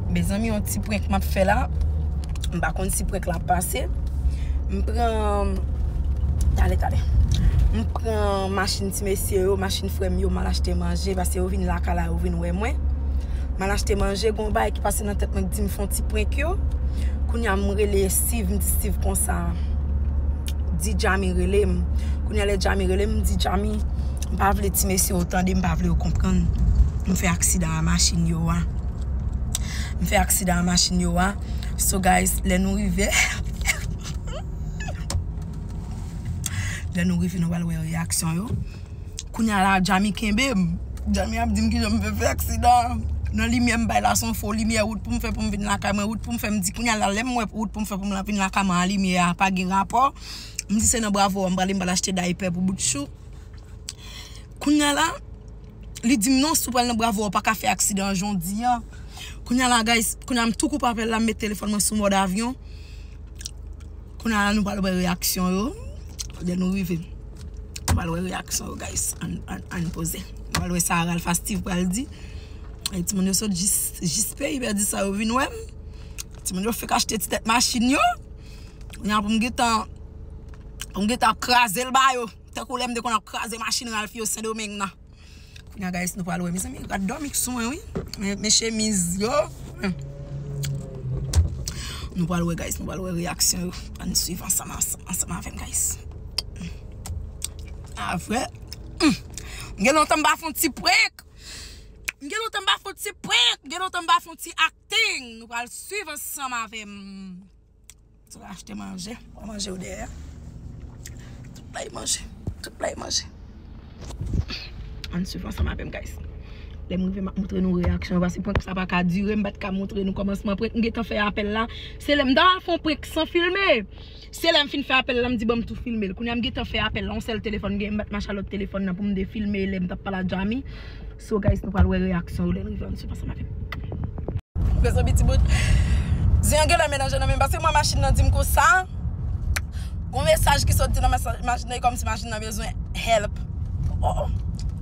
Mezanmi yon ti prank map fè la M pa konn si prank la ap pase M pran Tale tale M pran machin ti mesye yo Machin frè m yo M al achte manje Paske yo vin lakay la yo vin wè mwen M al achte manje Gon bagay ki pase nan tèt mwen Ki di m fon ti prank yo Kounya m rele Steeve M di Steeve konsa Di Jamy rele m Kounya lè Jamy rele m M di Jamy M pa vle ti mesye yo tande, m pa vle yo konprann m fè aksidan a machin yo a. M fè aksidan a machin yo a. So guys, lè nou rive Lè nou rive nou pral wè reyaksyon yo. Kounya la Djamie kenbe m. Djamie ap di m kijan m fè fè aksidan an. Nan limyè m bay la son fo limyè wout pou m fè pou m vin lakay mwen. Wout pou m fè m di kounya la lè m wè wout pou m fè pou m vin lakay mwen a limyè a pa gen rapò. M di se nan bravo a m prale m pral achte daypè pou boutchou. Kounya la Li dim non si w pral nan bravo a ou paka fè aksidan jodia Kounya la guys Kounya m tou koupe apèl la m met telefòn mwen sou mòd avyon Kounya la nou pral wè reyaksyon yo Lè nou rive Nou pral wè reyaksyon yo guys Ann poze Nou pral wè sa Ralph a Steeve pral di E timoun yo sot jis jis peyi Bèdisa yo vin wè m Timoun yo fèk achte ti tèt machin yo Kounya pou m gentan pou m gentan ap kraze l ba yo tankou lè m te konn ap kraze machin Ralph yo Sendomeng nan Kounya guys nou pral wè Mezanmi rad dòmi k sou mwen wi Men chemiz yo Nou pral wè guys nou pral wè reyaksyon yo Ann swiv ansanm ansanm avè m guys A vre Humm M gen lontan m pa fon ti prank M gen lontan m pa fon ti prank M gen lontan m pa fon ti ak. Thing nou pral swiv ansanm avè m. Sot achte manje. Ou manje ou dèyè. Tout bay manje. Tout bay manje. Ann swiv ansanm avè m guys. Lè m rive m ap montre nou reyaksyon yo paske prank sa pa ka dire m pa t ka montre nou kòmansman prank m gentan fè apèl la. Se lè m ta pral fè yon prank san filme. Se lèm fin fè apèl la m di banm tou filmel kounya m gentan fè apèl la on sèl telefòn m gen m bat ma Charlotte telefòn nan poum de filme lèm tap pale a Jamy so guys nou pral wè reyaksyon yo lèn rive ann suivan ansanm avèm. Mezanmi ti bout Zen an genlè melanje nan menm paske mwen machin nan dim konsa Gon mesaj ki soti nan mesaj machin nan e kòmsi machin nan bezwen help oh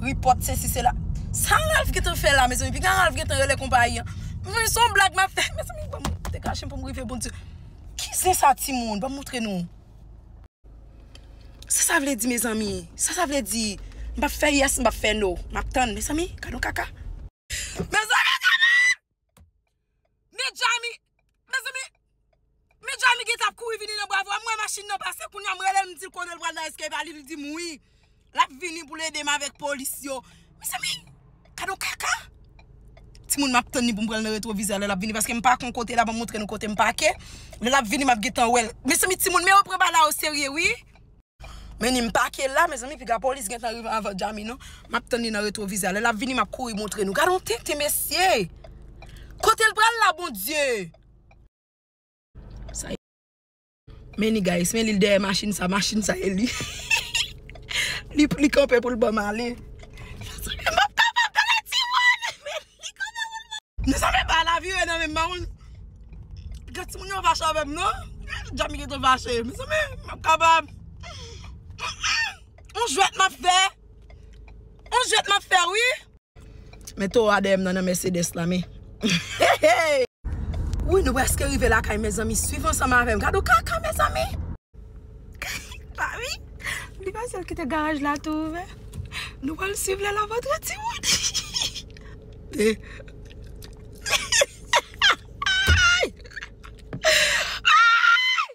report sesi sela Sa Ralph gentan fè la mezanmi piga Ralph gentan rele konpayi an Mezanmi son blag map fè mezanmi banm dekachèm poum rive bon Dieu. Ki zen sa ti moun banm moutre nou. Sa sa vle di mezanmi sa sa vle di m pap fè yes m pap fè no map tann mezanmi gadon kaka. Mezanmi gade Medjamy mezanmi Medjamy gentan ap kouri vini nan bwa vwa m wè machin nan pase kounya m relel m dil kote l pral nan eskev a li di m wi. Lap vini poul edem avèk polis yo. Mezanmi gad yon kaka. Timoun map tann li poum pranl nan retrovizè lè lap vini paske mpa kon kote la banm montre nou kotem pake lè lap vini map gentan wèl mezanmi timoun men yo pran bala yo serye wi. Menem pake la mezanmi piga polis gentan rive avan Jamy non map tann li nan retrovizè a lè lap vini map kouri montre nou gad yon tenten mesye kotel pral la bondye. Many guys men lil dèyè machine sa machine sa e li li kanpe poul banm ale map kapab nan la ti moun men li kanpe poul banm ale mezanmi epa la vire nan menm pa konn gen timoun yo fache avèm non Jamy gentan fache mezanmi map kapab on jwèt map fè on jwèt map fè wi. Men towo a dèyèm nan nan Mercedes la men Heheey. Wouyy nou preske rive lakay mezanmi swiv ansanm avèm gade yon kaka mezanmi. Mari li pa sèl kite garaj la tou ouvè nou pral swiv lè lap antre timoun Heheeyy Ayy Ayy.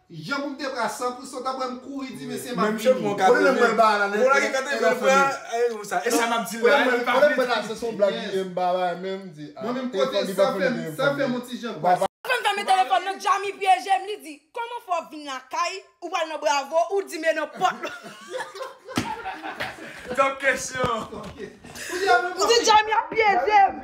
Jan pou m te pra san pou sot aprè m kouri di mesye m ap vini. Kote nèg mwen ba a la nèt. E sa m ap di l la li pa vle di. Mwen menm kote sa fè m sa fè m on ti jan kwa. Aprè m fèmen telefòn nan Djammy pyeje m li di kòman fè w ap vin lakay ou pral nan bravo ou di m e nan pòt la. Top kesyon. Ou di Djammy ap pyeje m.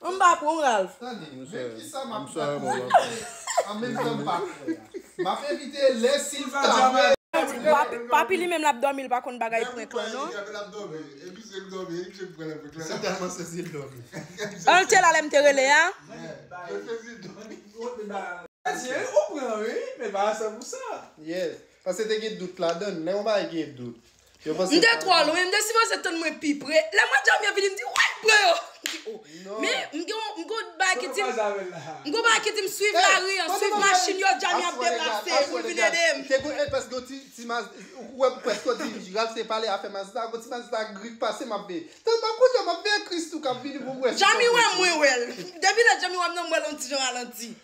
M pa pran w Ralph. Tande, men kisa m ap fè pou evite l an menm tan m pa kwè a. M ap evite l lè si l ta vle. Papi li menm l ap dòmi l pa konn bagay prank lan non. An l te la lè m te rele a? Yes, paske te gen dout ladan l. Lè yon bagay gen dout. M te twò lwen, m te sipoze tann mwen pi pre. Lè mwen djanm yo vini m di woy m pran yo. M di o. Men, m gen yon bagay ki di m, m gen yon bagay ki di m swiv lari an, swiv machin yo djanm y ap deplase pou l vin ede m. Te gen pèske gen yon ti, ti Mazda, ou wè pèske yo di Ralph te pale afè Mazda, gen yon ti Mazda gri k pase m ap veye. Tèlman kounye a m ap veye Christoo k ap vini pou m wè si se yon Christoo. Djanmi wè m mwen wè l. Depi lè Djanmi wè m nan m wè l yon ti jan ralanti.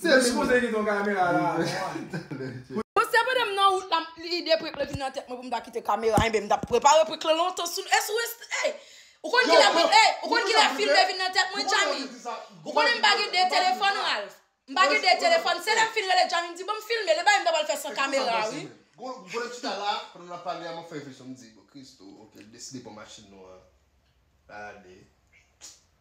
Se li moun ki gen kamera la a. Mwen se pandan m nan wout la lide prik lan vin nan tèt mwen pou m ta kite kamera enben m ta prepare prik lan lontan sou e sou ey ou konn kilè prik ey ou konn kilè fim te vin nan tèt mwen Djammy ou konnen m pa gen 2 telefòn Ralph m pa gen 2 telefòn se lè m fin rele Djammy m di banm filme l e bagay m ta pral fè san kamera a wi. Gode m chita la pandan nap pale a map fè refleksyon m di bon Christoo ok l deside pran machin nou an lap ale.